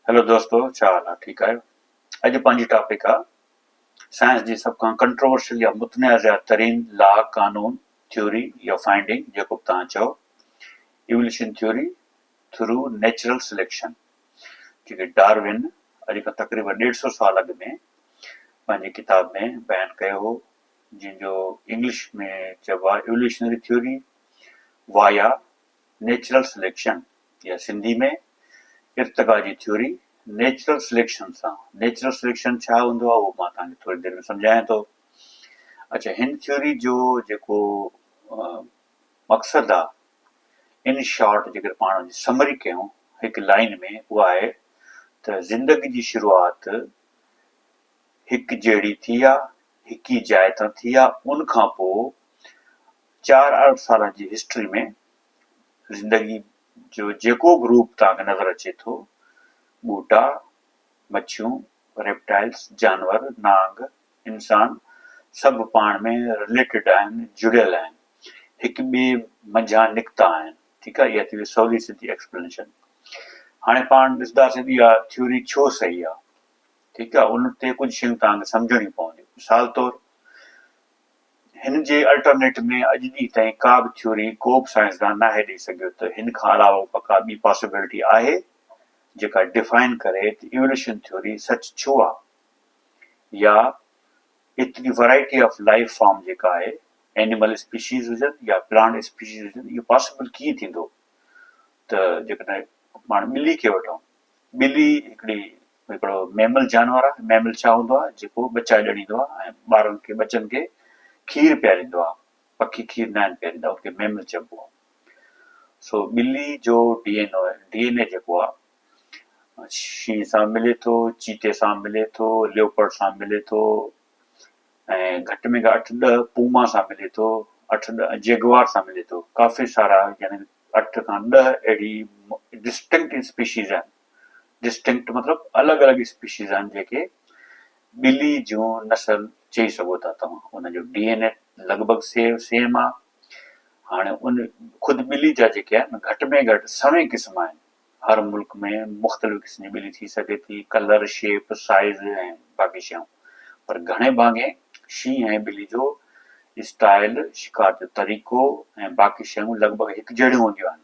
Hello دوستو ڇا حال آهي ٺيڪ آهيو اڄ پنهنجي ٽاپڪ آهي سائنس جي سڀ کان ڪنٽروورشل يا متنازع ترين لا قانون ٿيوري يا فائنڊنگ جيڪو به توهان چئو evolution theory through natural selection جيڪي ڊارون اڄ کان تقريبن ڏيڍ سو سال اڳ ۾ پنهنجي ڪتاب ۾ بيان ڪيو هو جن جو انگلش ۾ چئبو آهي evolutionary theory via natural selection يا سنڌي ۾ ارتقا جي ٿيوري نيچرل سليڪشن سان نيچرل سليڪشن ڇا هوندو آهي اهو مان توهان کي ٿوري دير ۾ سمجهايان ٿو اڇا هن ٿيوري جو جيڪو مقصد آهي ان شارٽ جيڪر پاڻ جي سمري ڪيون هڪ لائن ۾ اها آهي ته زندگي جي شروعات هڪ جهڙي ٿي آهي هڪ ئي جاء تان ٿي آهي ان کان پوء چار ارب سالن جي هسٽري ۾ زندگي جو جيڪو به روپ توهان کي نظر اچي ٿو، ٻوٽا، مڇيون، ريپٽائلز، جانور، نانگ، انسان، سڀ پاڻ ۾ رليٽيڊ آهن، جڙيل آهن، هڪ ٻئي منجهان نڪتا آهن، ٺيڪ آهي، اها ٿي وئي سولي سڌي ايڪسپلينيشن. هاڻي پاڻ ڏسنداسين ته اها ٿيوري ڇو صحيح آهي، ٺيڪ آهي، ان تي ڪجهه شيون توهان کي سمجهڻيون پونديون، مثال طور هن جي الٽرنيٽ ۾ اڄ ڏينهن تائين ڪا به ٿيوري ڪو به سائنسدان ناهي ڏئي سگهيو ته هن کان علاوه به ڪا ٻي پاسبلٽي آهي جيڪا ڊفائن ڪري ته ايوليوشن ٿيوري سچ ڇو آ يا ايتري ورائٽي آف لائيف فارم جيڪا آهي اينيمل اسپيشيز هجن يا پلانٽ اسپيشيز هجن اهو پاسبل ڪيئن ٿيندو ته جيڪڏهن پاڻ ٻلي کي وٺون ٻلي هڪڙي هڪڙو ميمل جانور آهي، ميمل ڇا هوندو آهي جيڪو ٻچا ڄڻيندو آهي ۽ ٻارن کي ٻچن کي کير پياريندو آهي، پکي کير ناهن پياريندا ان کي ميمل چئبو آهي. سو ٻلي جو D N O D N A جيڪو آهي شينهن سان ملي ٿو، چيتي سان ملي ٿو، ليوپرڊ سان ملي ٿو ۽ گهٽ ۾ گهٽ اٺ ڏهه پوما سان ملي ٿو، اٺ ڏهه جيگوار سان ملي ٿو، ڪافي سارا يعني اٺ کان ڏهه اهڙي ڊسٽنڪٽ اسپيشيز آهن. Distinct مطلب الڳ الڳ اسپيشيز آهن جيڪي ٻلي جون نسل چئي سگهو ٿا توهان ان جو ڊي اين اي لڳ ڀڳ سيو سيم آهي هاڻي ان خود ٻلي جا جيڪي آهن گهٽ ۾ گهٽ سوين قسم آهن هر ملڪ ۾ مختلف قسم جي ٻلي ٿي سگهي ٿي ڪلر شيپ سائز ۽ باقي شيون پر گهڻي ڀاڱي شينهن ۽ ٻلي جو اسٽائل شڪار جو طريقو ۽ باقي شيون لڳ ڀڳ هڪ جهڙيون هونديون آهن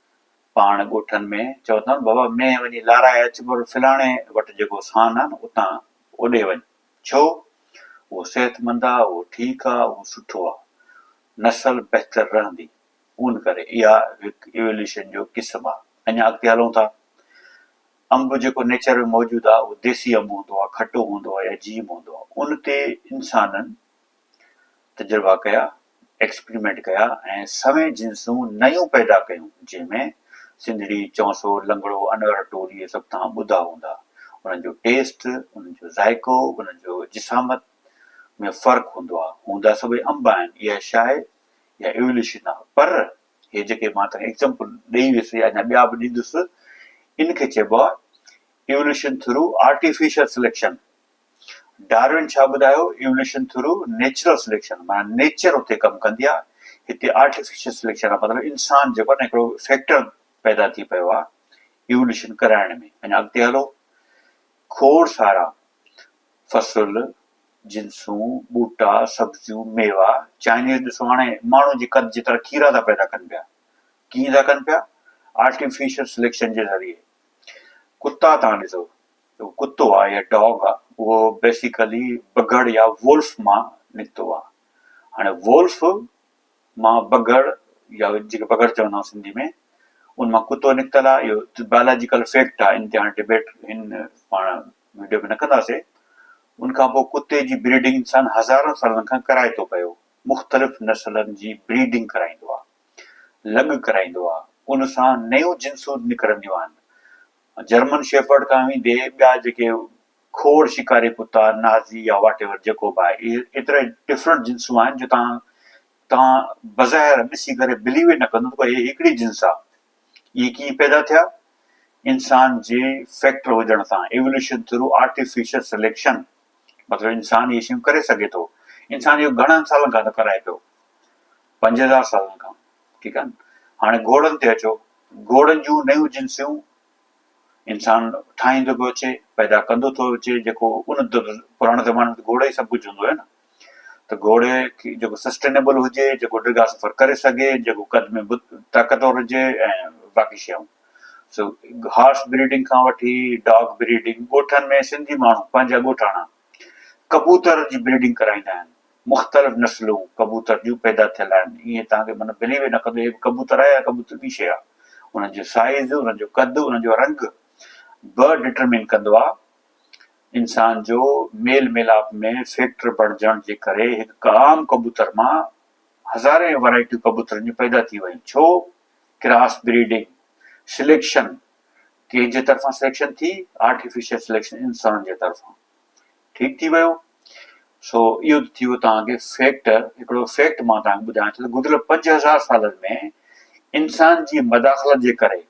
پاڻ ڳوٺن ۾ چئو اٿائون بابا مينهن وڃي لارائي اچ پر فلاڻي وٽ جيڪو سان آ نه اتان اوڏي وڃ ڇو اهو صحت مند آ اهو ٺيڪ آ اهو سٺو آ نسل بهتر رهندي ان ڪري اها هڪ ايوليوشن جو قسم آ اڃا اڳتي هلون ٿا انب جيڪو نيچر ۾ موجود آ اهو ديسي انب هوندو آ کٽو هوندو آ يا جيم هوندو آ ان تي انسانن تجربا ڪيا، ايڪسپريمينٽ ڪيا ۽ سوين جنسون نيون پيدا ڪيون، جنهن ۾ سنڌڙي، چونسو، لنگڙو، انور ٽول اهي سڀ توهان ٻڌا هوندا. انهن جو ٽيسٽ، انهن جو ذائقو، انهن جو جسامت ۾ فرق هوندو آهي. هوندا سڀئي انب آهن. اها شاهي يا ايوليوشن آهي. پر هي جيڪي مان توهان کي ايڪزامپل ڏئي ويس يا اڃا ٻيا به ڏيندس، ان کي چئبو آهي evolution through artificial selection. Darwin ڇا ٻڌايو، ايوليوشن ٿرو نيچرل سليڪشن معنيٰ نيچر اتي ڪم ڪندي آهي، هتي آرٽيفيشل سليڪشن آهي مطلب انسان جيڪو آهي نه هڪڙو فيڪٽر پيدا ٿي پيو آهي ايوليوشن ڪرائڻ ۾ اڃا اڳتي هلو کوڙ سارا فصل جنسون ٻوٽا سبزيون ميوا چائنيز ڏسو هاڻي ماڻهو جي قد جيترا کيرا ٿا پيدا ڪن پيا ڪيئن ٿا ڪن پيا آرٽيفيشل سليڪشن جي ذريعي ڪتا تان ڏسو جو ڪتو آ يا ڊاگ آ اهو بيسيڪلي بگهڙ يا وولف مان نڪتو آ هاڻي وولف مان بگهڙ يا جيڪي بگهڙ چوندا آهيون سنڌي ۾ ان مان ڪتو نڪتل آ اهو بايولاجيڪل فيڪٽ آ ان تي هاڻي ڊبيٽ هن پاڻ وڊيو ۾ نه ڪنداسي ان کان پوء ڪتي جي بريڊنگ انسان هزارن سالن کان ڪرائي ٿو پيو مختلف نسلن جي بريڊنگ ڪرائيندو آ لڳ ڪرائيندو آ ان سان نيون جنسون نڪرنديون آهن جرمن شيفرڊ کان ويندي ٻيا جيڪي کوڙ شڪاري ڪتا، نازي يا واٽ ايور جيڪو به آهي اهي ايتري ڊفرنٽ جنسون آهن جو تان تان بظاهر ڏسي ڪري بليو ئي نه ڪندو ته اهي هڪڙي جنس آ. اهي ڪيئن پيدا ٿيا؟ انسان جي فيڪٽر هجڻ سان، ايولوشن ٿرو آرٽيفيشل سليڪشن، مطلب انسان اهي شيون ڪري سگهي ٿو. انسان اهو گهڻن سالن کان ٿو ڪرائي پيو. پنج هزار سالن کان. ٺيڪ آهي نه. هاڻي گهوڙن تي اچو، گهوڙن جون نيون جنسيون انسان ٺاهيندو پيو اچي، پيدا ڪندو ٿو اچي، جيڪو ان پراڻي زماني ۾ ته گهوڙو ئي سڀ ڪجهه هوندو هيو نه، ته گهوڙي کي جيڪو سسٽينيبل هجي، جيڪو ڊگها سفر ڪري سگهي، جيڪو قد ۾ به طاقتور هجي ۽ باقي شيون. سو هارس بريڊنگ کان وٺي ڊاگ بريڊنگ ڳوٺن ۾ سنڌي ماڻهو پنهنجا ڳوٺاڻا ڪبوتر جي بريڊنگ ڪرائيندا آهن مختلف نسلون ڪبوتر جون پيدا ٿيل آهن ايئن توهان کي معنيٰ بليو ئي نه ڪندو هي ڪبوتر آهي يا ڪبوتر ٻي شيء آهي انهن جو سائيز انهن جو قد انهن جو رنگ به ڊٽرمين ڪندو آهي انسان جو ميل ميلاپ ۾ فيڪٽر بڻجڻ جي ڪري هڪ عام ڪبوتر مان هزارين ورائٽيون ڪبوترن جون پيدا ٿي ويون ڇو ڪراس بريڊنگ سليڪشن ڪنهن جي طرفان سليڪشن ٿي آرٽيفيشل سليڪشن انسان جي طرفان ٺيڪ ٿي ويو سو اهو ته ٿي ويو توهان کي فيڪٽ هڪڙو فيڪٽ مان توهان کي ٻڌايان ٿو ته گذريل پنج هزار سالن ۾ انسان جي مداخلت جي ڪري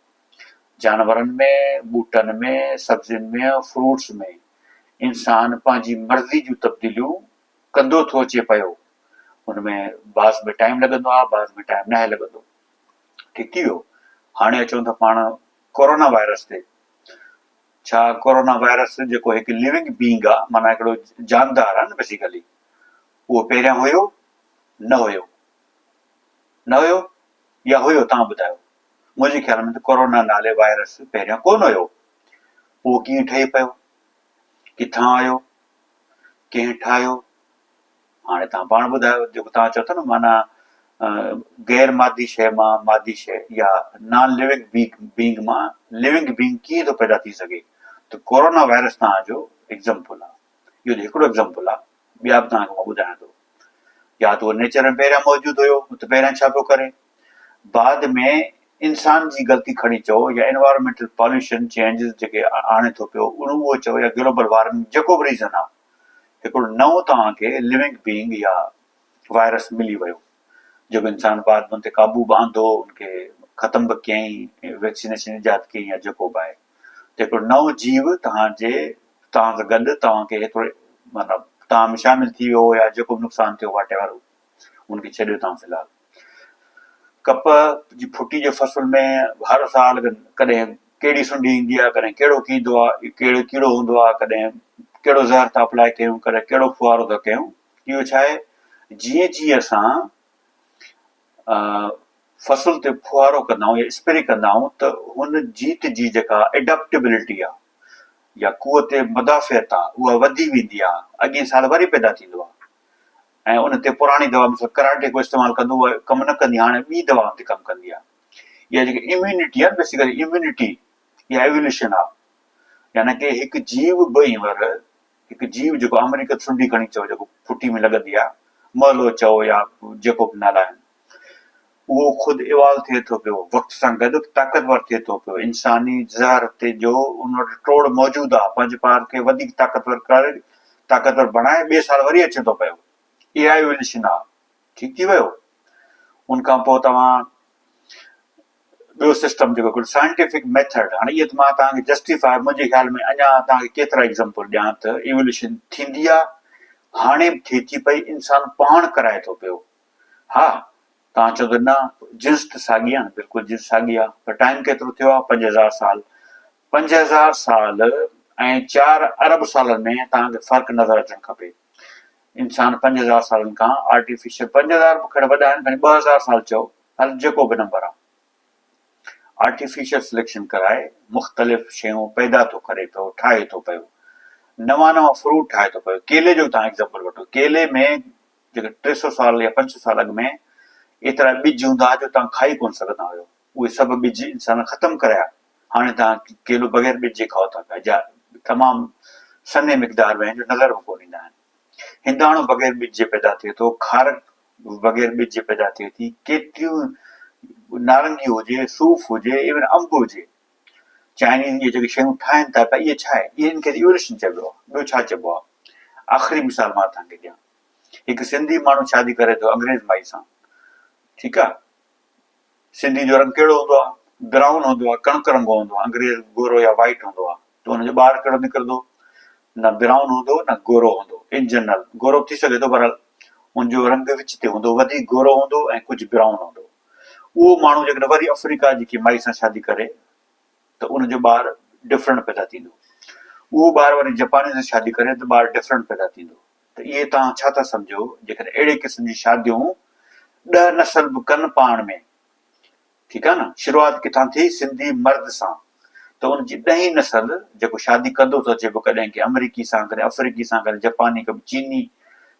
جانورن ۾ ٻوٽن ۾ سبزين ۾ فروٽس ۾ انسان پنهنجي مرضي جون تبديليون ڪندو ٿو اچي پيو ان ۾ بعض ۾ ٽائيم لڳندو آهي بعض ۾ ٽائيم ناهي لڳندو ٺھڪي ويو ھاڻي اچون ٿا پاڻ ڪورونا وائرس تي ڇا ڪورونا وائرس جيڪو هڪ ليونگ بينگ آ معنی هڪڙو جاندار آ نه بيسيڪلي اهو پهريان هيو نه هيو نه هيو يا هيو تان ٻڌايو منهنجي خيال ۾ ته ڪورونا نالي وائرس پهريان ڪون هيو پوء ڪيئن ٺهي پيو ڪٿان آيو ڪنهن ٺاهيو هاڻي توهان پاڻ ٻڌايو جيڪو توهان چئو ٿا نه معنيٰ غير مادي شيء مان مادي شيء يا نان ليونگ بينگ مان ليونگ بينگ ڪيئن ٿو پيدا ٿي سگهي ته ڪورونا وائرس توهان جو ايگزمپل آهي اهو ته هڪڙو ايگزمپل آهي ٻيا به توهان کي مان ٻڌايان ٿو يا ته اهو نيچر ۾ پهريان موجود هيو ته پهريان ڇا پيو ڪري بعد ۾ انسان جي غلطي کڻي چئو يا انوائرمينٽل پاليوشن چينجز جيڪي آڻي ٿو پيو اهو چئو يا گلوبل وارمنگ جيڪو به ريزن آهي هڪڙو نئون توهان کي لونگ بيئنگ يا وائرس ملي ويو جيڪو انسان بعد ۾ ان تي قابو به آندو ان کي ختم به ڪيائين ويڪسينيشن ايجاد ڪيائين يا جيڪو به آهي ته هڪڙو نئون جيو توهان جي توهان سان گڏ توهان کي هڪڙو مطلب توهان ۾ شامل ٿي ويو يا جيڪو به نقصان ٿيو واٽ ايور ان کي ڇڏيو توهان في الحال ڪپهه جي ڦٽي جي فصل ۾ هر سال ڪڏهن ڪهڙي سنڍي ايندي آهي ڪڏهن ڪهڙو ڪيندو آهي ڪهڙو ڪيڙو هوندو آهي ڪڏهن ڪهڙو زهر ٿا اپلائي ڪيون ڪڏهن ڪهڙو ڦوهارو ٿا ڪيون اهو ڇا آهي جيئن جيئن اسان فصل تي ڦوهارو ڪندا آهيون يا اسپري ڪندا آهيون ته هن جيت جي جيڪا ايڊاپٽيبلٽي آهي يا قوت مدافعت آهي اها وڌي ويندي آهي اڳئين سال وري پيدا ٿيندو آهي ۽ ان تي پراڻي دوا مثل ڪراٽي ڪو استعمال ڪندو هو ڪم نه ڪندي هاڻي ٻي دوائن تي ڪم ڪندي آهي اها جيڪي اميونٽي آهي بيسيڪلي اميونٽي اها ايووليوشن آهي يعني ڪي هڪ جيو به هينئر هڪ جيو جيڪو آمريڪا سنڊي کڻي چئو جيڪو ڦٽي ۾ لڳندي آهي مهلو چئو يا جيڪو به نالا آهن اهو خود ايوالو ٿئي ٿو پيو، وقت سان گڏ طاقتور ٿئي ٿو پيو، انساني زهر تي جو ان وٽ ٽوڙ موجود آ، پنهنجي پار کي وڌيڪ طاقتور ڪري، طاقتور بڻائي ٻئي سال وري اچي ٿو پيو. اها ايواليوشن آ. ٺيڪ ٿي ويو. ان کان پوء توهان ٻيو سسٽم جيڪو ڪجهه سائنٽيفڪ ميٿڊ، هاڻي اهي ته مان توهان کي جسٽيفاء منهنجي خيال ۾ اڃا توهان کي ڪيترا ايگزامپل ڏيان ته ايواليوشن ٿيندي آ، هاڻي به ٿئي ٿي پئي، انسان پاڻ ڪرائي ٿو پيو. ها توهان چئو ته نه جنس ته ساڳي آهن بلڪل جنس ساڳي آهي پر ٽائيم ڪيترو ٿيو آهي پنج هزار سال پنج هزار سال ۽ چار ارب سالن ۾ توهان کي فرق نظر اچڻ کپي انسان پنج هزار سالن کان آرٽيفيشل پنج هزار به کڙ وڏا آهن ٻه هزار سال چئو هر جيڪو به نمبر آهي آرٽيفيشل سليڪشن ڪرائي مختلف شيون پيدا ٿو ڪري پيو ٺاهي ٿو پيو نوان نوان فروٽ ٺاهي ٿو پيو ڪيلي جو تان ايگزامپل وٺو ڪيلي ۾ جيڪي ٽي سؤ سال يا پنج سؤ سال اڳ ۾ ايترا ٻج هوندا ها جو توهان کائي ڪونه سگهندا هيو. اهي سڀ ٻج انسانن ختم ڪريا. هاڻي توهان ڪيلو بغير ٻج جي کائو ٿا پيا، جا تمام سنهي مقدار ۾ آهن جو نظر به ڪونه ايندا آهن. هنداڻو بغير ٻج جي پيدا ٿئي ٿو، کارڪ بغير ٻج جي پيدا ٿئي ٿي، ڪيتريون نارنگيون هجي، صوف هجي، ايون انب هجي. چائنيز اهي جيڪي شيون ٺاهن ٿا پيا اهي ڇا آهي؟ انهن کي ايولوشن چئبو آهي، ٻيو ڇا چئبو آهي؟ آخري مثال مان توهان کي ڏيان. هڪ سنڌي ماڻهو شادي ڪري ٿو انگريز مائي سان ٺيڪ آ سنڌي جو رنگ ڪهڙو هوندو آ براؤن هوندو آ ڪڻڪ رنگو هوندو آ انگريز گورو يا وائٽ هوندو آ ته ان جو ٻار ڪهڙو نڪرندو نه براؤن هوندو نه گورو هوندو ان جنرل گورو ٿي سگهي ٿو بهرحال ان جو رنگ وچ تي هوندو وڌيڪ گورو هوندو ۽ ڪجهه براؤن هوندو اهو ماڻهو جيڪڏهن وري افريقا جي ڪي مائي سان شادي ڪري ته ان جو ٻار ڊفرنٽ پيدا ٿيندو اهو ٻار وري جپاني سان شادي ڪري ته ٻار ڊفرنٽ پيدا ٿيندو ته اهي توهان ڇا ٿا سمجهو جيڪڏهن اهڙي قسم جي شاديون ڏهه نسل به ڪن پاڻ ۾ ٺيڪ آهي نه شروعات ڪٿان ٿي سنڌي مرد سان ته ان جي ڏهين نسل جيڪو شادي ڪندو ٿو اچي پيو ڪڏهن ڪنهن امريڪي سان ڪڏهن افريڪي سان ڪڏهن جپاني ڪڏهن چيني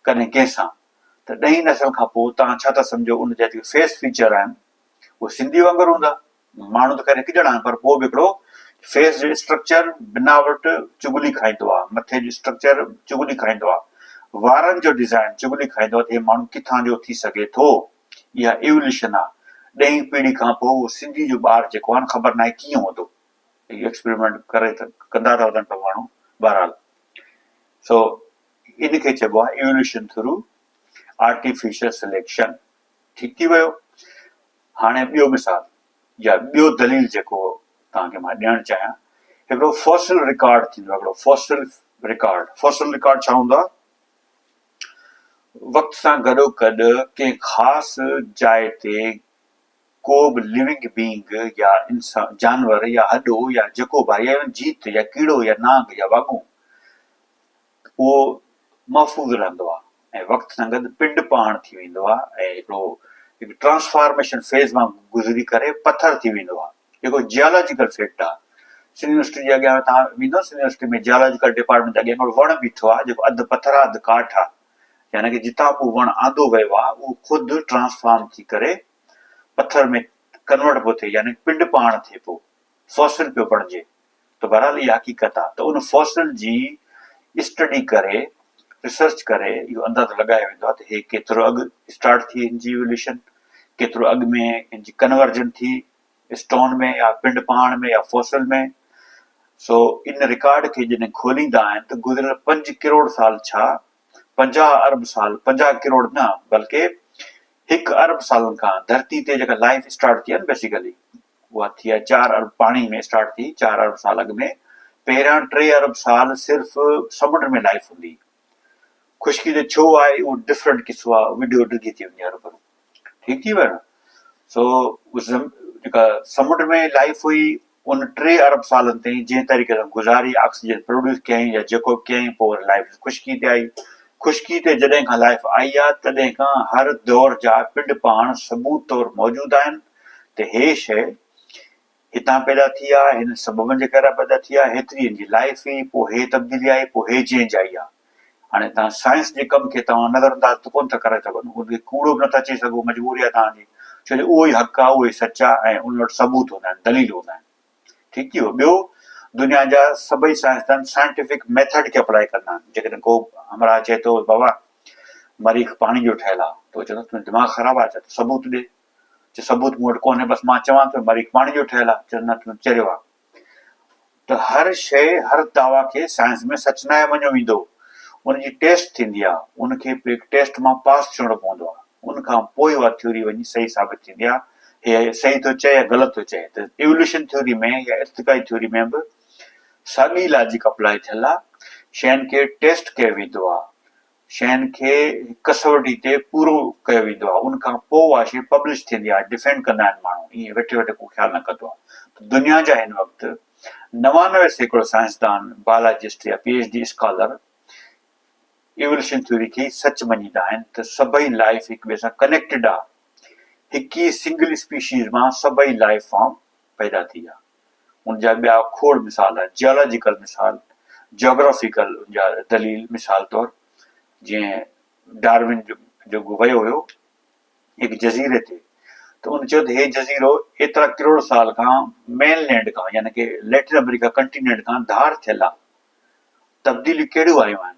ڪڏهن ڪنهن سان ته ڏهين نسل کان پوء توهان ڇا ٿا سمجهو ان جا جيڪي فيس فيچر آهن اهي سنڌي وانگر هوندا ماڻهو ته خير هڪ ڄڻا آهن پر پوء به هڪڙو فيس جي اسٽرڪچر بناوٽ چغلي کائيندو آهي، مٿي جو اسٽرڪچر چغلي کائيندو آهي، وارن جو ڊزائين چغلي کائيندو آهي ته هي ماڻهو ڪٿان جو ٿي سگهي ٿو؟ اها ايوليوشن آهي. ڏهين پيڙهي کان پوء اهو سنڌي جو ٻار جيڪو آهي نه خبر ناهي ڪيئن هوندو. هي ايڪسپريمينٽ ڪري ته ڪندا ته وڌن پيا ماڻهو بهرحال سو ان کي چئبو آهي ايوليوشن ٿرو آرٽيفيشل سليڪشن ٺيڪ ٿي ويو هاڻي ٻيو مثال يا ٻيو دليل جيڪو توهان کي مان ڏيڻ چاهيان هڪڙو فوسل رڪارڊ ٿيندو آهي هڪڙو فوسل رڪارڊ فوسل رڪارڊ ڇا هوندو آهي وقت سان گڏو گڏ ڪنهن خاص جاء تي ڪو به ليونگ بينگ يا انسان جانور يا هڏو يا جيڪو به آهي يا جيت يا ڪيڙو يا نانگ يا واڳون اهو محفوظ رهندو آهي ۽ وقت سان گڏ پنڊ پاڻ ٿي ويندو آهي ۽ هڪڙو هڪ ٽرانسفارميشن فيز مان گذري ڪري پٿر ٿي ويندو آهي جيڪو جيالاجيڪل فيڪٽ آهي سنڌ يونيورسٽي جي اڳيان تان ويندو سنڌ يونيورسٽي ۾ جيالاجيڪل ڊپارٽمينٽ جي اڳيان هڪڙو وڻ بيٺو آهي جيڪو اڌ پٿر آهي اڌ ڪاٺ آهي يعني ڪي جتان به وڻ آندو ويو آهي اهو خود ٽرانسفارم ٿي ڪري پٿر ۾ ڪنورٽ پيو ٿئي يعني پنڊ پاڻ ٿئي پيو فوسل پيو بڻجي ته بهرحال اها حقيقت آهي ته ان فوسل جي اسٽڊي ڪري ريسرچ ڪري اهو اندازو لڳايو ويندو آهي ته هي ڪيترو اڳ اسٽارٽ ٿي هن جي ايوليوشن ڪيترو اڳ ۾ هن جي ڪنورجن ٿي اسٽون ۾ يا پنڊ پهاڻ ۾ يا فوسل ۾ سو ان رڪارڊ کي جڏهن کوليندا آهن ته گذريل پنج ڪروڙ سال ڇا پنجاهه ارب سال پنجاهه ڪروڙ نه بلڪه هڪ ارب سالن کان ڌرتي تي جيڪا لائف اسٽارٽ ٿي آهي بيسيڪلي اها ٿي آهي چار ارب پاڻي ۾ اسٽارٽ ٿي چار ارب سال اڳ ۾ پهريان ٽي ارب سال صرف سمنڊ ۾ لائف هوندي خشڪي جو ڇو آهي اهو ڊفرنٽ قصو آهي ويڊيو ڊگهي ٿي وڃي ارب ٺيڪ ٿي ويو نه سو جيڪا سمنڊ ۾ لائف هئي ان ٽي ارب سالن تائين جنهن طريقي سان گذاري آڪسيجن پروڊيوس ڪيائين يا جيڪو به ڪيائين پوء وري لائف خشڪي تي آئي خشڪي تي جڏهن کان لائف آئي آهي تڏهن کان هر دور جا پنڊ پاڻ ثبوت طور موجود آهن ته هي شيء هتان پيدا ٿي آ، هنن سببن جي ڪري پيدا ٿي آ، هيتري هن جي لائف هئي، پوء هي تبديلي آئي، پوء هي چينج آئي آ. هاڻي تان سائنس جي ڪم کي توهان نظر انداز ته ڪونه ٿا ڪري سگهو، ان کي ڪوڙو به نٿا چئي سگهو، مجبوري آ توهان جي، ڇو جو اهو ئي حق آ، اهو ئي سچ آ ۽ انهن وٽ ثبوت هوندا آهن، دليل هوندا آهن. ٺيڪ ٿي ويو. ٻيو دنيا جا سڀئي سائنسدان سائنٽيفڪ ميٿڊ کي اپلائي ڪندا آهن، جيڪڏهن ڪو همراهه چئي ٿو بابا مريخ پاڻي جو ٺهيل آ، ته هو چوندو تنهنجو دماغ خراب آ ڇا، ته ثبوت ڏي. چيو ثبوت مون وٽ ڪونهي بس مان چوان ٿو مريخ پاڻي جو ٺهيل آهي چيس نه تون چريو آهي ته هر شيء هر دعويٰ کي سائنس ۾ سچ ناهي مڃيو ويندو ان جي ٽيسٽ ٿيندي آهي ان کي پيڪ ٽيسٽ مان پاس ٿيڻو پوندو آهي ان کان پوء اها ٿيوري وڃي صحيح ثابت ٿيندي آهي هيء صحيح ٿو چئي يا غلط ٿو چئي ته ايولوشن ٿيوري ۾ يا ارتقائي ٿيوري ۾ به ساڳي لاجڪ اپلاء ٿيل آهي شين کي ٽيسٽ ڪيو ويندو آهي شين کي هڪ ڪسوٽي تي پورو ڪيو ويندو آهي ان کان پوء اها شي پبلش ٿيندي آهي ڊفينڊ ڪندا آهن ماڻهو ائين ويٺي ويٺي ڪو خيال نه ڪندو آهي ته دنيا جا هن وقت نوانوي سيڪڙو سائنسدان بايولاجسٽ يا P H D scholar evolution theory کي ئي سچ مڃيندا آهن ته سڀئي لائف هڪ ٻئي سان ڪنيڪٽيڊ آهي هڪ ئي سنگل اسپيشيز مان سڀئي لائف فارم پيدا ٿي ويا. ان جا ٻيا کوڙ مثال آهن، جيالاجيڪل مثال، جاگرافيڪل ان جا دليل مثال طور جيئن ڊارون جو جيڪو ويو هيو هڪ جزيري تي ته ان چيو ته هي جزيرو ايترا ڪروڙ سال کان مين لينڊ کان يعني ڪي ليٽن آمريڪا ڪنٽينينٽ کان ڌار ٿيل آهي تبديليون ڪهڙيون آيون آهن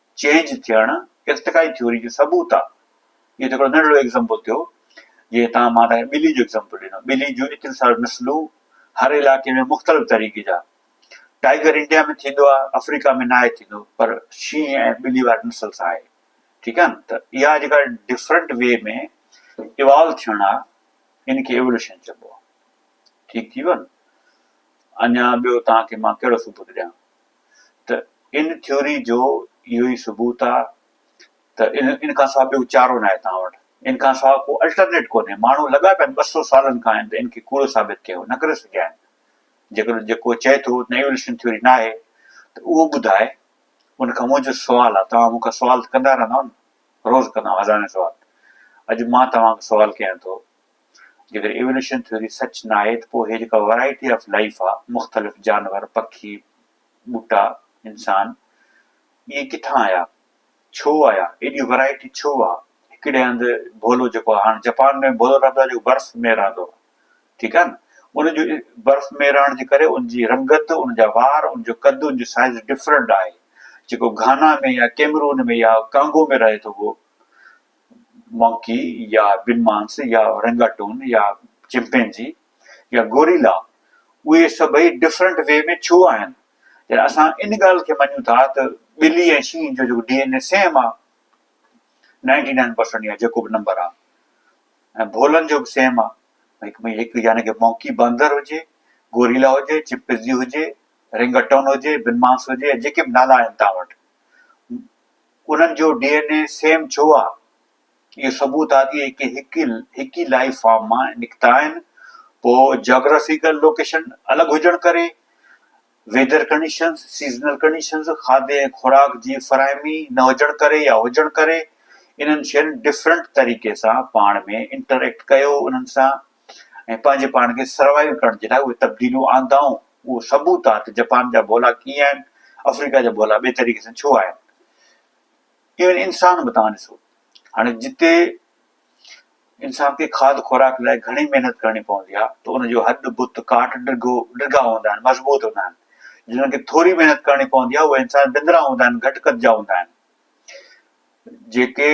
چينج ٿيڻ ارتقائي ٿيوري جو ثبوت آ. اهو ته هڪڙو ننڍڙو ايگزامپل ٿيو. جيئن تهان مان تهان کي ٻلي جو ايگزامپل ڏنو. ٻلي جون ايتريون ساريون نسلون هر علائقي ۾ مختلف طريقي جا. ٽائيگر انڊيا ۾ ٿيندو آ، آفريڪا ۾ ناهي ٿيندو پر شينهن ۽ ٻلي واري نسل سان آهي. ٺيڪ آ نه؟ ته اها جيڪا ڊفرنٽ وي ۾ ايوالو ٿيڻ آ ان کي ايولوشن چئبو آ. ٺيڪ ٿي ويو نه؟ اڃا ٻيو تهان کي مان ڪهڙو ثبوت ڏيان؟ ته ان ٿيوري جو اهو ئي ثبوت آ ته ان کان سواء ٻيو چارو ناهي توهان وٽ، ان کان سواء ڪو الٽرنيٽ ڪونهي، ماڻهو لڳا پيا آهن ٻه سؤ سالن کان آهن ته ان کي ڪوڙو ثابت ڪيو نه ڪري سگهيا آهن، جيڪڏهن جيڪو چئي ٿو ته ايوليوشن ٿيوري ناهي ته اهو ٻڌائي، ان کان منهنجو سوال آ، توهان مون کان سوال ته ڪندا رهندا آهيو نه، روز ڪندا آهيو هزارين سوال، اڄ مان توهان کان سوال ڪيان ٿو. جيڪڏهن ايولوشن ٿيوري سچ ناهي ته پوء هي جيڪا ورائٽي آف لائيف آ، مختلف جانور، پکي، ٻوٽا، انسان، اهي ڪٿان آيا؟ ڇو آيا؟ ايڏي ورائٽي ڇو آ؟ هڪڙي هنڌ ڀولو جيڪو آ، هاڻ جپان ۾ ڀولو رهندو آ جيڪو برف ۾ رهندو آ، ٺيڪ آ نه، ان جو برف ۾ رهڻ جي ڪري ان جي رنگت، ان جا وار، ان جو قد، ان جو سائيز ڊفرنٽ آهي، جيڪو گهانا ۾ يا ڪيمرون ۾ يا ڪانگو ۾ رهي ٿو اهو مونڪي يا بنمانس يا اورنگاٽون يا چمپينزي يا گوريلا اهي سڀئي ڊفرنٽ وي ۾ ڇو آهن؟ يعني اسان ان ڳالهه کي مڃون ٿا ته ٻلي ۽ شينهن جو جيڪو ڊي اين اي سيم آهي نائنٽي نائن پرسنٽ يا جيڪو به نمبر آهي ۽ ڀولن جو به سيم آهي هڪ ۾ هڪ يعني ڪي مونڪي باندر هجي گوريلا هجي چمپينزي هجي رنگٽون هجي بنمانس هجي جيڪي به نالا آهن تان وٽ انهن جو ڊي اين اي سيم ڇو آ؟ اهو ثبوت آ ته اهي هڪ ئي لائيف فارم مان نڪتا آهن. پوء جاگرافيڪل لوڪيشن الڳ هجڻ ڪري، ويڌر ڪنڊيشنز، سيزنل ڪنڊيشنز، کاڌي ۽ خوراڪ جي فراهمي نه هجڻ ڪري يا هجڻ ڪري، انهن شين ڊفرنٽ طريقي سان پاڻ ۾ انٽر ايڪٽ ڪيو انهن سان. ۽ پنهنجي پاڻ کي سروائيو ڪرڻ جي لاء اهي تبديليون آندائون، اهو ثبوت آهي ته جپان جا ڀولا ڪيئن آهن، آفريڪا جا ڀولا ٻئي طريقي سان ڇو آهن. ايون انسان به توهان ڏسو، هاڻي جتي انسان کي کاڌ خوراڪ لاء گهڻي محنت ڪرڻي پوندي آهي ته ان جو هڏ، بت، ڪاٺ ڊگهو، ڊگها هوندا آهن، مضبوط هوندا آهن، جنن کي ٿوري محنت ڪرڻي پوندي آهي، اهي انسان ڊندرا هوندا آهن، گهٽ قد جا هوندا آهن. جيڪي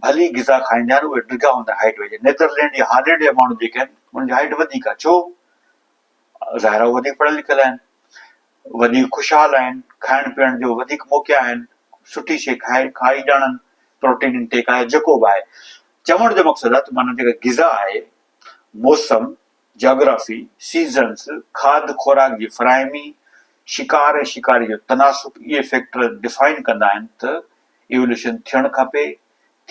ڀلي غذا کائيندا آهن اهي ڊگها هوندا آهن هائيٽ وائيز نيدرلينڊ يا هالينڊ جا ماڻهو جيڪي آهن انهن جي هائيٽ وڌيڪ آهي ڇو؟ ظاهر آهي وڌيڪ پڙهيل لکيل آهن وڌيڪ خوشحال آهن کائڻ پيئڻ جو وڌيڪ موقعا آهن سٺي شي کائي کائي ڄاڻن پروٽين انٽيڪ آهي جيڪو به آهي چوڻ جو مقصد آهي ته معنيٰ جيڪا غذا آهي موسم جاگرافي، سيزنز، کاڌ خوراڪ جي فراهمي، شڪار ۽ شڪاري جو تناسب اهي فيڪٽر ڊفائن ڪندا آهن ته ايوليوشن ٿيڻ کپي،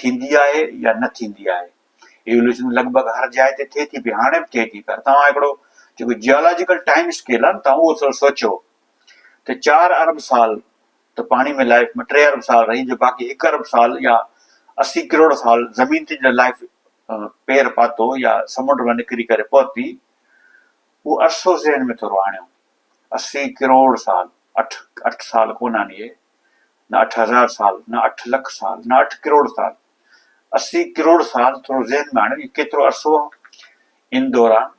ٿيندي آهي يا نه ٿيندي آهي. ايوليوشن لڳ ڀڳ هر جاء تي ٿئي ٿي پئي، هاڻي به ٿئي ٿي پر توهان هڪڙو جيڪو جيالاجيڪل ٽائيم اسڪيل آهي نه توهان اهو ٿورو سوچيو ته چار ارب سال ته پاڻي ۾ لائف ٽي ارب سال رهي جو باقي هڪ ارب سال يا اسي ڪروڙ سال زمين تي جڏهن لائف پير پاتو يا سمنڊ مان نڪري ڪري پهتي، اهو عرصو ذهن ۾ ٿورو آڻيو، اسي ڪروڙ سال، اٺ اٺ سال ڪونه آهن اهي، نه اٺ هزار سال، نه اٺ لک سال، نه اٺ ڪروڙ سال، اسي ڪروڙ سال ٿورو ذهن ۾ آڻيو، اهو ڪيترو عرصو آهي؟ ان دوران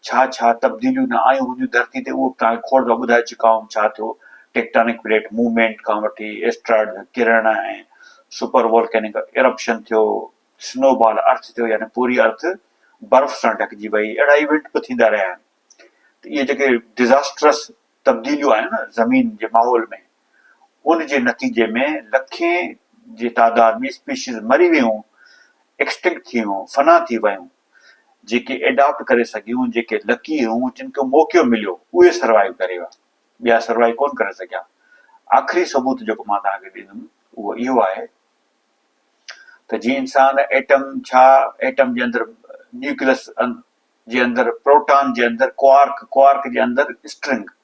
ڇا ڇا تبديليون نه آيون هونديون ڌرتي تي، اهو به توهان کي کوڙ دفعا ٻڌائي چڪا آهيون، ڇا ٿيو ٽيڪٽانڪ پليٽ موومينٽ کان وٺي ايسٽرائڊ جا ڪرڻ ۽ سپر وولڪينڪ ارپشن ٿيو، سنو بال ارٿ ٿيو يعني پوري ارٿ برف سان ڍڪجي وئي اهڙا ايونٽ به ٿيندا رهيا آهن ته اهي جيڪي ڊزاسٽرس تبديليون آهن نه زمين جي ماحول ۾ ان جي نتيجي ۾ لکين جي تعداد ۾ اسپيشيز مري ويون ايڪسٽنڪٽ ٿي ويون فنا ٿي ويون جيڪي ايڊاپٽ ڪري سگهيون جيڪي لڪي هيون جن کي موقعو مليو اهي سروائيو ڪري ويا ٻيا سروائيو ڪون ڪري سگهيا آخري ثبوت جيڪو مان توهان کي ڏيندم اهو اهو آهي ته جي انسان ايٽم ڇا ايٽم جي اندر نيوڪليس جي اندر پروٽان جي اندر ڪوارڪ ڪوارڪ جي اندر اسٽرنگ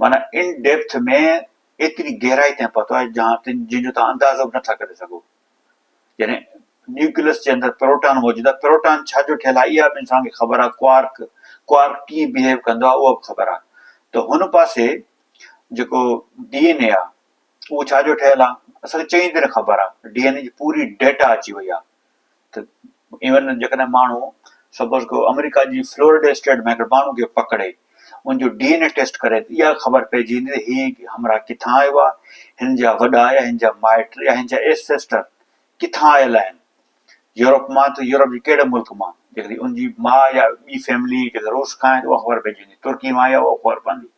معنيٰ ان ڊيپٿ ۾ ايتري گهرائي تائين پهتو آهي جهان تن جن جو تان اندازو به نٿا ڪري سگهو يعني نيوڪليس جي اندر پروٽان موجود آهي پروٽان ڇا جو ٺهيل آهي اها به انسان کي خبر آهي ڪوارڪ ڪوارڪ ڪيئن بهيو ڪندو آهي اها به خبر آهي ته هن پاسي جيڪو ڊي اين اي آهي اهو ڇا جو ٺهيل آ اسان کي چڱي طرح خبر آ ڊي اين اي جي پوري ڊيٽا اچي وئي آ ته ايون جيڪڏهن ماڻهو سپوز ڪيو آمريڪا جي فلورڊي اسٽيٽ ۾ هڪڙي ماڻهو کي پڪڙي ان جو ڊي اين اي ٽيسٽ ڪري ته اها خبر پئجي ويندي ته هي همراهه ڪٿان آيو آ هن جا وڏا يا هن جا مائٽ يا هن جا ايسيسٽر ڪٿان آيل آهن يورپ مان ته يورپ جي ڪهڙي ملڪ مان جيڪڏهن ان جي ماء يا ٻي فيملي جيڪڏهن روس کان آهي ته اها خبر پئجي ويندي ترڪي مان آهي اها خبر پوندي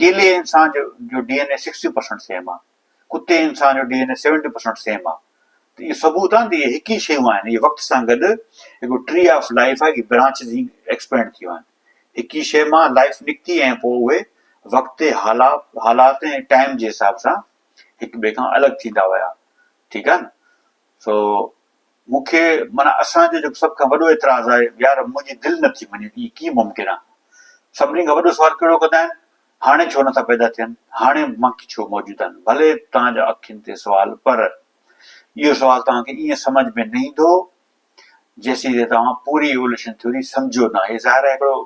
ڪيلي ۽ انسان جو D N A sixty percent same آ ڪتي ۽ انسان جو D N A seventy percent same آ ته اهو ثبوت آ نه ته اهي هڪ ئي شيون آهن اهي وقت سان گڏ هڪڙو ٽري آف لائيف آ جي برانچز هي ايڪسپينڊ ٿيون آهن هڪ ئي شيء مان لائيف نڪتي ۽ پوء اهي وقت حالات ۽ ٽائيم جي حساب سان هڪ ٻئي کان الڳ ٿيندا ويا ٺيڪ آ نه سو مون کي معنيٰ اسان جو جيڪو سڀ کان وڏو اعتراض آهي يار منهنجي دل نه ٿي مڃي ته ايئن ڪيئن ممڪن آهي؟ سڀني کان وڏو سوال ڪهڙو ڪندا آهن؟ هاڻي ڇو نٿا پيدا ٿين؟ هاڻي مک ڇو موجود آهن؟ ڀلي توهان جا اکين تي سوال پر اهو سوال توهان کي ايئن سمجهه ۾ نه ايندو جيسين تائين توهان پوري ايووليوشن ٿيوري سمجهو نه. هي ظاهر آهي هڪڙو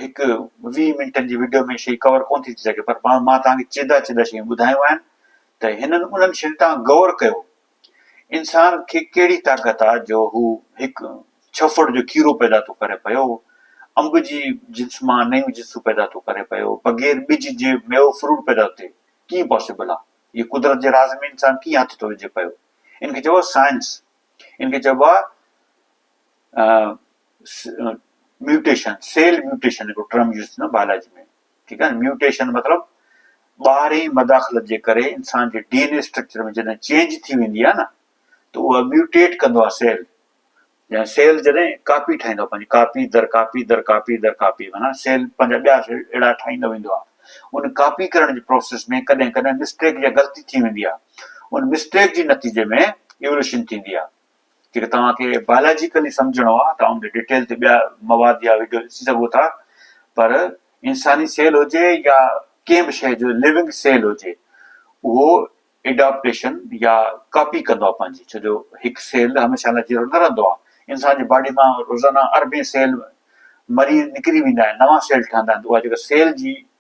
هڪ ويهه منٽن جي وڊيو ۾ شيء ڪور ڪونه ٿي ٿي سگهي پر مان توهان کي چيدا چيدا شيون ٻڌايون آهن ته هنن انهن شين تان غور ڪيو، انسان کي ڪهڙي طاقت آ جو هو هڪ ڇڦڙ جو کيرو پيدا ٿو ڪري پيو، انب جي جنس مان نيون جنسون پيدا ٿو ڪري پيو، بغير ٻج جي ميوو فروٽ پيدا ٿو ٿئي، ڪيئن پاسيبل آ؟ اهي قدرت جي راز ۾ انسان ڪيئن هٿ ٿو وجهي پيو؟ ان کي چئبو آ سائنس، ان کي چئبو آ ميوٽيشن، سيل ميوٽيشن هڪڙو ٽرم يوز ٿيندو آ بايولاجي ۾. ٺيڪ آهي نه ميوٽيشن مطلب ٻاهرين مداخلت جي ڪري انسان جي ڊي اين اي اسٽرڪچر ۾ جڏهن چينج ٿي ويندي آهي نه ته اها ميوٽيٽ ڪندو آهي سيل جڏهن سيل جڏهن ڪاپي ٺاهيندو آهي پنهنجي ڪاپي در ڪاپي در ڪاپي در ڪاپي معناها سيل پنهنجا ٻيا اهڙا ٺاهيندو ويندو آهي ان ڪاپي ڪرڻ جي پروسيس ۾ ڪڏهن ڪڏهن مسٽيڪ يا غلطي ٿي ويندي آهي ان مسٽيڪ جي نتيجي ۾ ايولوشن ٿيندي آهي جيڪڏهن توهان کي بائلاجيڪلي سمجهڻو آهي ته آئون ڏي ڊيٽيل تي ٻيا مواد يا وڊيو ڏسي سگهو ٿا پر انساني سيل هجي يا ڪنهن به شيء جو ليونگ سيل هجي اهو ايڊاپٽيشن يا ڪاپي ڪندو آهي پنهنجي ڇو جو هڪ سيل هميشه لاء جيئرو نه رهندو آهي انسان جي باڊي مان روزانه اربين سيل مري نڪري ويندا آهن نوان سيل ٺهندا آهن اها جيڪا سيل جي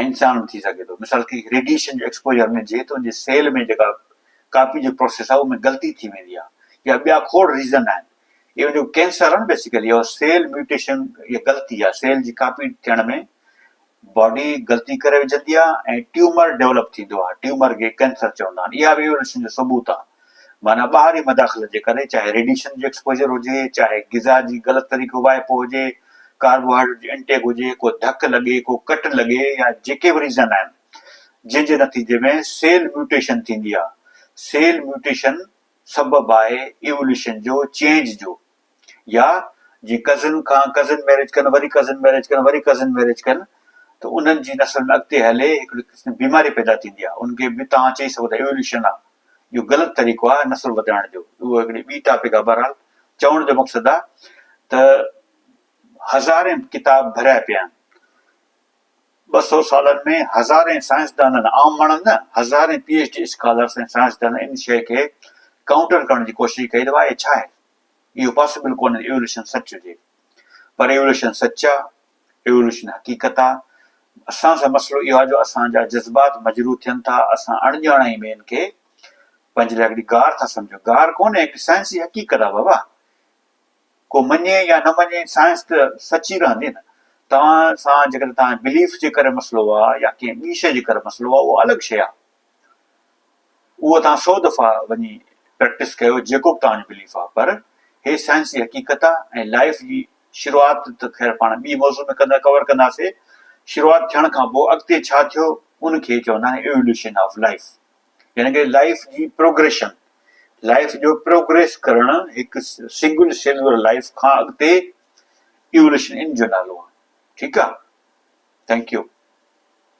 ۽ انسان به ٿي سگهي ٿو مثال ڪي ريڊيئيشن جو ايڪسپوجر ۾ جي تون جي سيل ۾ جيڪا ڪاپي جو پروسيس آهي ان ۾ غلطي ٿي ويندي آهي يا ٻيا کوڙ ريزن آهن اهو جو ڪينسر آهن بيسيڪلي اهو سيل ميوٽيشن يا غلطي آهي سيل جي ڪاپي ٿيڻ ۾ باڊي غلطي ڪري وجهندي آهي ۽ ٽيومر ڊيولپ ٿيندو آهي ٽيومر کي ڪينسر چوندا آهن اها به ايولوشن جو ثبوت آهي معنيٰ ٻاهرين مداخلت جي ڪري، چاهي ريڊيشن جو ايڪسپوزر هجي، چاهي غذا جي غلط طريقي واهپو هجي، ڪاربوهائڊريٽ جي انٽيڪ هجي، ڪو ڌڪ لڳي، ڪو ڪٽ لڳي يا جيڪي به ريزن آهن، جنهن جي نتيجي ۾ سيل ميوٽيشن ٿيندي آهي. سيل ميوٽيشن سبب آهي ايووليوشن جو، چينج جو. يا جي ڪزن کان ڪزن ميريج ڪن وري ڪزن ميريج ڪن وري ڪزن ميريج ڪن ته انهن جي نسل ۾ اڳتي هلي هڪڙي قسم بيماري پيدا ٿيندي آهي ان کي به توهان چئي سگهو ٿا ايوليوشن آهي اهو غلط طريقو آهي نسل وڌائڻ جو اهو هڪڙي ٻي ٽاپڪ آهي بهرحال چوڻ جو مقصد آهي ته هزارين ڪتاب ڀريا پيا آهن ٻه سو سالن ۾ هزارين سائنسدانن عام ماڻهن نه هزارين پي ايچ ڊي اسڪالرس ۽ سائنسدانن ان شيء کي ڪائونٽر ڪرڻ جي ڪوشش ڪئي ته آهي ڇا آهي اهو پاسبل ڪونهي ايولوشن سچ هجي. پر ايولوشن سچ آ، ايولوشن حقيقت آ. اسان سان مسئلو اهو آ جو اسان جا جذبات مجروح ٿين ٿا، اسان اڻ ڄاڻائي ۾ ان کي پنهنجي لاء هڪڙي گار ٿا سمجهون. گار ڪونهي هڪ سائنسي حقيقت آ بابا. ڪو مڃي يا نه مڃي سائنس ته سچ ئي رهندي نه. توهان سان جيڪڏهن توهان جي بليف جي ڪري مسئلو آ يا ڪنهن ٻي شيء جي ڪري مسئلو آ اهو الڳ شيء آ. اهو توهان سو دفعا وڃي پريڪٽس ڪيو جيڪو به توهان جو بليف آ پر هي سائنسي حقيقت آ ۽ لائيف جي شروعات ته خير پاڻ ٻي موضوع ۾ ڪندر ڪور ڪنداسي شروعات ٿيڻ کان پوء اڳتي ڇا ٿيو ان کي چوندا آهن ايولوشن آف لائيف يعني ڪه لائيف جي پروگريشن لائيف جو پروگريس ڪرڻ هڪ سنگل سيلولر لائيف کان اڳتي ايولوشن ان جو نالو آ ٺيڪ آ ٿينڪ يو